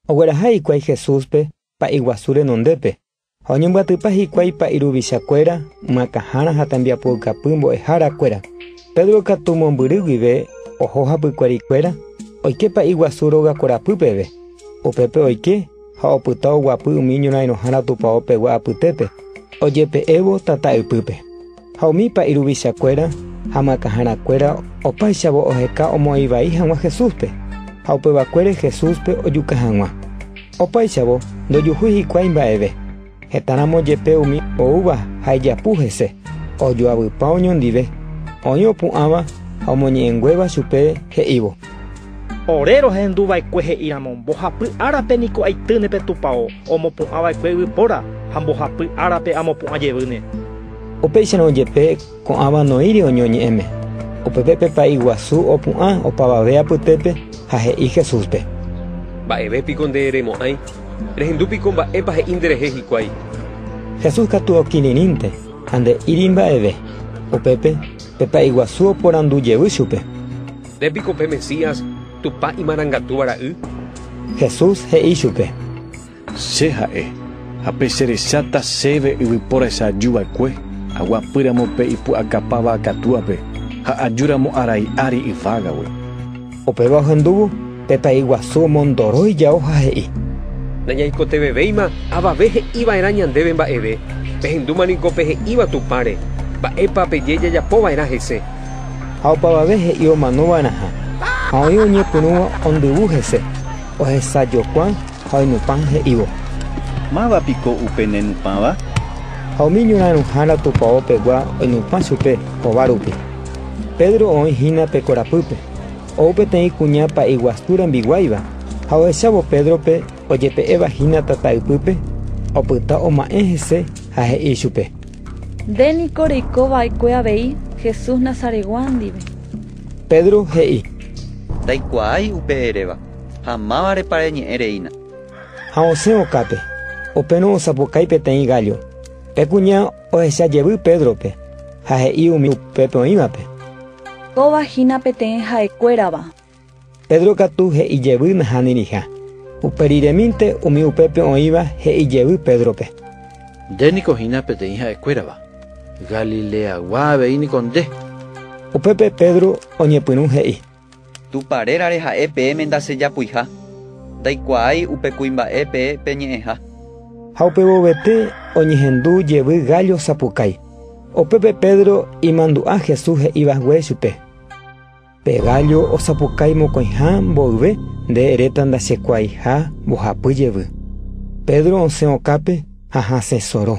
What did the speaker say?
Ogueraha hikuái Jesúspe pa'i guasu renondépe, ha oñembyatypa hikuái pa'i ruvicha kuéra, ymãkãhára ha tembiapoukapy mbo'ehára kuéra. Pedro katu mombyry guive oho hapykuéri kuéra, oike pa'i guasu róga korapy peve. Upépe oike ha opyta oguapy umi ñorãirõhára tupao pegua apytépe, ojepe'évo tata ypýpe. Ha umípa iruvichakuéra ha makãharakuéra opáichavo oheka omoĩ vai hag̃ua Jesúspe, ha upevakuére Jesúspe ojuka hag̃ua. Opáichavo ndojuhúi hikuái mba'eve, hetãramo jepe umi oúva ha ijapu hese, ojoavypa oñondive, oĩ opu'ãva ha omoñe'ẽnguéva chupe he'ívo: “Ore rohendu va'ekue he'íramo, mbohapy árape niko aitýne pe tupao, omopu'ã va'ekue yvypóra, ha mbohapy árape amopu'ã jevýne.” Upéicharõ jepe ko'ãva noĩri oñoñe'ẽme, upépe pe pa'i guasu opu'ã opavave apytépe ha he'i Jesúspe: “Mba'eve piko nde remo'ãi? Rehendu piko mba'épa he'i nderehe hikuái.” Jesús katu okirirĩnte ha nde'íri mba'eve. Upépe pe pa'i guasu oporandu jevy chupe: “¿Nde piko pe Mesías, Tupã Imarangatúva Ra'y?” Jesús he'i chupe: Che ha'e, ha pe che recháta chéve yvypóra echajy va'ekue, aguapy ramo pe ipu'akapa va'a katuape, ha aju ramo arai ári yvágagui. Upéva ohendúvo pe pa'i guasu omondoro ijao ha he'i. Nañaikotevẽvéima avave he'i va'erã ñandéve mba'eve, pehendúma niko pe he'íva Tupãre, mba'épa peje jajapo va'erã hese. Ha opavave he'i omano va'erãha, ha oĩ oñepyrũva ondyvu hese, ohesajokuã Ha oinupã he'ívo. Máva piko upe ne nupãva? Ha umi ñorãirõhára tupao pegua oinupã chupe hova rupi. Pedro oĩ hína pe korapýpe, ou peteĩ kuña pa'i guasu rembiguáiva, ha ohechávo Pédrope ojepe'éva hína tata ypýpe, opyta oma'ẽ hese ha he'i chupe. Nde niko reiko va'ekue avei Jesús Nazaretgua ndive. Pedro he'i. Ndaikuaái upe eréva. Ha mávarepa reñe'ẽ reína. Ha osẽ okápe, upérõ osapukái peteĩ gállo. Pe kuña ohecha jevy Pédrope, ha he'i umi upépe oĩvape: “Kóva hína peteĩ ha'ekuérava.” Pedro katu he'i jevy nahániriha. Upe riremínte umi upépe oĩva he'i jevy Pédrope: “Nde niko hína peteĩ ha'ekuérava. Galileagua avei niko nde.” Upépe Pedro oñepyrũ he'i. Tupã rérare ha'e peẽme ndasejapuiha, ndaikuaái upe kuimba'e pe peñe'ẽha. Ha upe vovete oñehendu jevy gállo sapukái. Upépe Pedro imandu'a Jesús he'i vague chupe: “Pe gállo osapukái mokõiha mboyve nde eréta ndachekuaaiha mbohapy jevy.” Pedro osẽ okápe ha hasẽ soro.